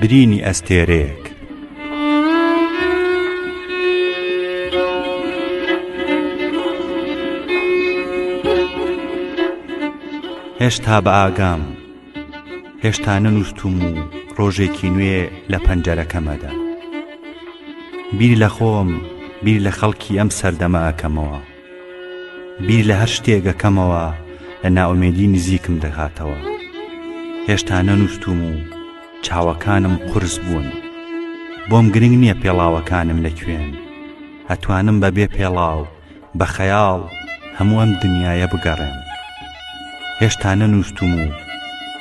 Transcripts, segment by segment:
برینی ئەستێرەیەک. هێشتا بە ئاگام هێشتا نەنووسم و ڕۆژێکی نوێ لە پەنجەرەکەمەدا بیر لە خۆم بیر لە خەڵکی ئەم سەردەمە ئەکەمەوە بیر لە هەر شتێک ئەکەمەوە لە نائومێدی نزیکم دەکاتەوە هێشتا نەنووستوم و چاوەکانم قورس بوون بۆم گرنگ نییە پێڵاوەکانم لە کوێن ئەتوانم بە بێ پێڵاو بە خەیاڵ هەموو ئەم دنیاە بگەڕێن هێشتا نەنووستوم و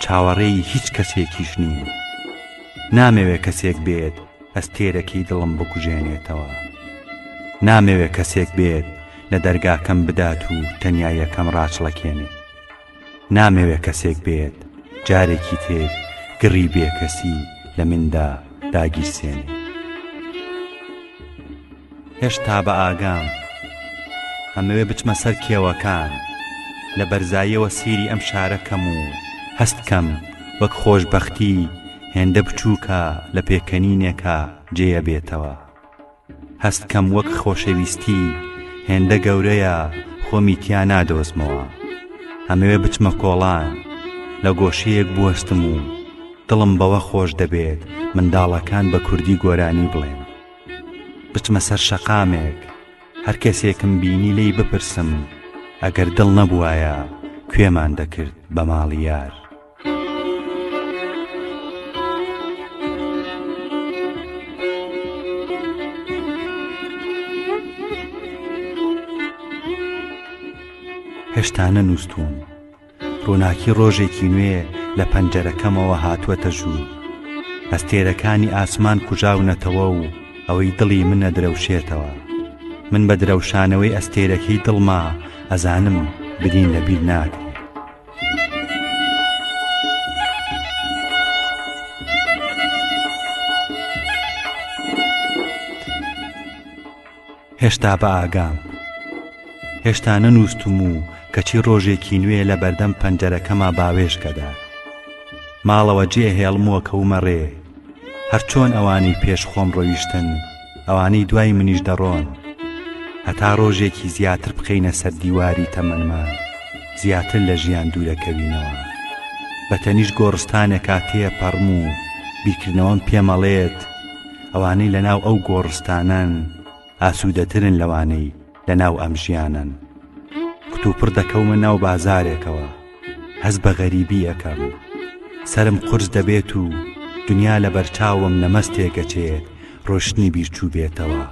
چاوەڕێی هیچ کەسێکیش نیم نامەوێ کەسێک بێت ئەستێرەکی دڵم بکوژێنێتەوە نامەوێ کەسێک بێت لە دەرگاکەم بدات و تەنیاییەکەم ڕاچڵەکێنێت نامەوێ کەسێک بێت جارێکی تر گڕی بێکەسی لە مندا داگیرسێنێت هێشتا بە ئاگام ئەمەوێ بچمە سەر کێوەکان لە بەرزاییەوە سەیری ئەم شارە کەم و هەست کەم وەک خۆشبەختی هێندە بچووکە لە پێکەنینێکا جێە بێتەوە هەست کەم وەک خۆشەویستی هێندە گەورەیە خۆمی تیا نادۆزمەوە ئەمەوێ بچمە کۆڵان لە گۆشەیەک بوەستم و دڵم بەوە خۆش دەبێت منداڵەکان بە کوردی گۆرانی بڵێن بچمە سەر شەقامێک هەر کەسێکم بینی لێی بپرسم ئەگەر دڵ نەبوایە کوێمان دەکرد بە ماڵی یار هێشتا نەنووسوم ڕووناکی ڕۆژێکی نوێ لە پەنجەرەکەمەوە هاتووەتە ژوور ئەستێرەکانی ئاسمان کوژاونەتەوە و ئەوەی دڵی منە درەوشێتەوە من بە درەوشانەوەی ئەستێرەکەی دڵما ئەزانم برین لە بیر ناکرێت هێشتا بە ئاگام هێشتا نەنووستم و کەچی ڕۆژێکی نوێ لە بەردەم پەنجەرەکەما باوێشکەدا ماڵەوە جێ هێڵمووە کەومە ڕێ هەرچۆن ئەوانی پێش خۆم ڕۆیشتن ئەوانەی دوای منیش دەڕۆن هەتا ڕۆژێکی زیاتر بخینە سەر دیواری تەمەنمان زیاتر لە ژیان دوورەکەوینەوە بە تەنیش گۆڕستانێکا تێپەڕم و بیرکردنەوەم پێمەڵێت ئەوانەی لەناو ئەو گۆڕستانەن ئاسوودەترن لەوانەی لەناو ئەم ژیانەن کتوپڕ دەکەومە ناو بازارێکەوە هەز بە غەریبی ئەەکەم سرم قرس دەبێت و دنیا لە بەرچاوم نەمەست تێگەچێ ڕۆشتنی بیرچوو بێتەوە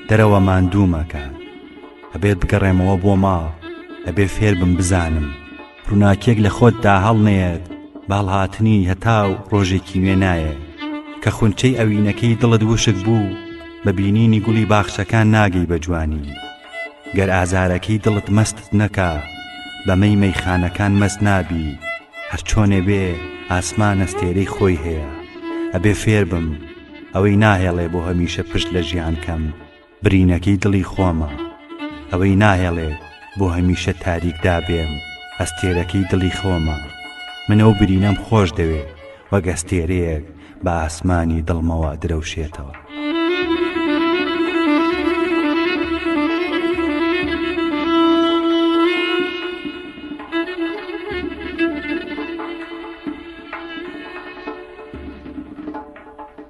دەرەوە ماندوومەکە ئەبێت بگەڕێمەوە بۆ ماڵ ئەبێ فێربم بزانم ڕووناکیەک لە خۆتدا هەڵنەیەت باڵهاتنی هەتاو ڕۆژێکی نوێ نایە کە خونچەی ئەوینەکەی دڵت وشک بوو بە بینینی گوڵی باخچەکان ناگەی بە جوانی گەر ئازارەکەی دڵت مەستت نەکا بەمەی مەیخانەکان مەست نابی هەرچۆنێ بێ ئاسمان ئەستێرەی خۆی هەیە ئەبێ فێربم ئەوەی ناهێڵێ بۆ هەمیشە پشت لە ژیان کەم برینەکەی دڵی خۆمە ئەوەی ناهێڵێ بۆ هەمیشە تاریکدا بێم ئەستێرەکەی دڵی خۆمە من ئەو برینەم خۆش دەوێ وەک ئەستێرەیەک بە ئاسمانی دڵمەوە درەوشێتەوە.